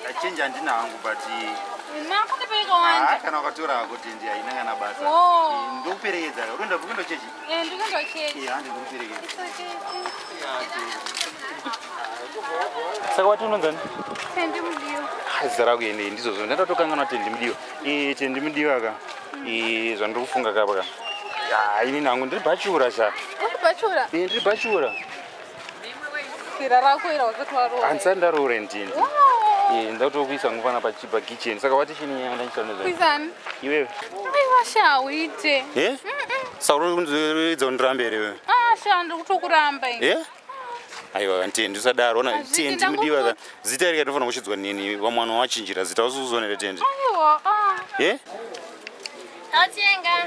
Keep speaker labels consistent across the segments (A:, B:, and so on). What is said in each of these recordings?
A: Ndachinja handina hangu but
B: ah, kana ukatora hako tendi
A: haina kana basa ndokuperekedza unoenda kupi ndochechi handi ndokuperekedza saka
B: wati unonzani
A: tendi
B: mudiwa zita rako ende
A: ndizvozvo ndaita tokanganwa tendi mudiwa tendi mudiwa ka zvandiri kufunga kapa ka ini nangu ndiri bhachura sha
B: ndiri bhachura hansa ndaroore ndini
A: eh, ndatokuisa ngufana pachipa kitchen saka wati chini yanga ndaisanezvaiwewe iwewe aiwasha
B: uite eh? sauro
A: kundizoedza undirambe here wewe ah, sha ndiri kutokuramba
B: eh? aiwa
A: ntendi usadaro ona tendi mudiwa zita rika tinofanira kushidzwa nini vamwana wachinjira zita usuzonere tendi aiwa ah.
B: eh? Atenga.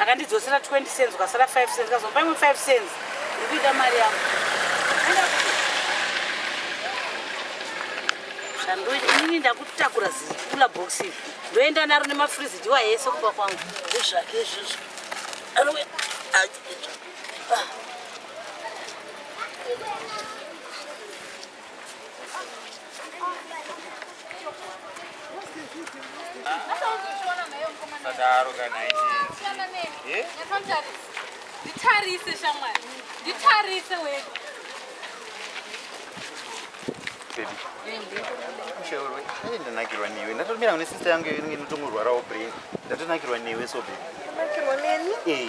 C: akandidzosera 20 cents ukasara 5 cents kazopa imwe 5 cents ndikuita mari yangu zvandoinini ndakutakura zikula box iri ndoenda naro nemafrizi ndiwa yese kumba kwangu ezvake izvizvo anouya
A: sadaro kana
B: nditarise shamwari nditarise wedu
A: ushaurwe ai ndanakirwa newe ndatomira kune sister yangu iyo inenge inotongorwarawo brain ndatonakirwa newe so baby nakirwa neni
D: eh.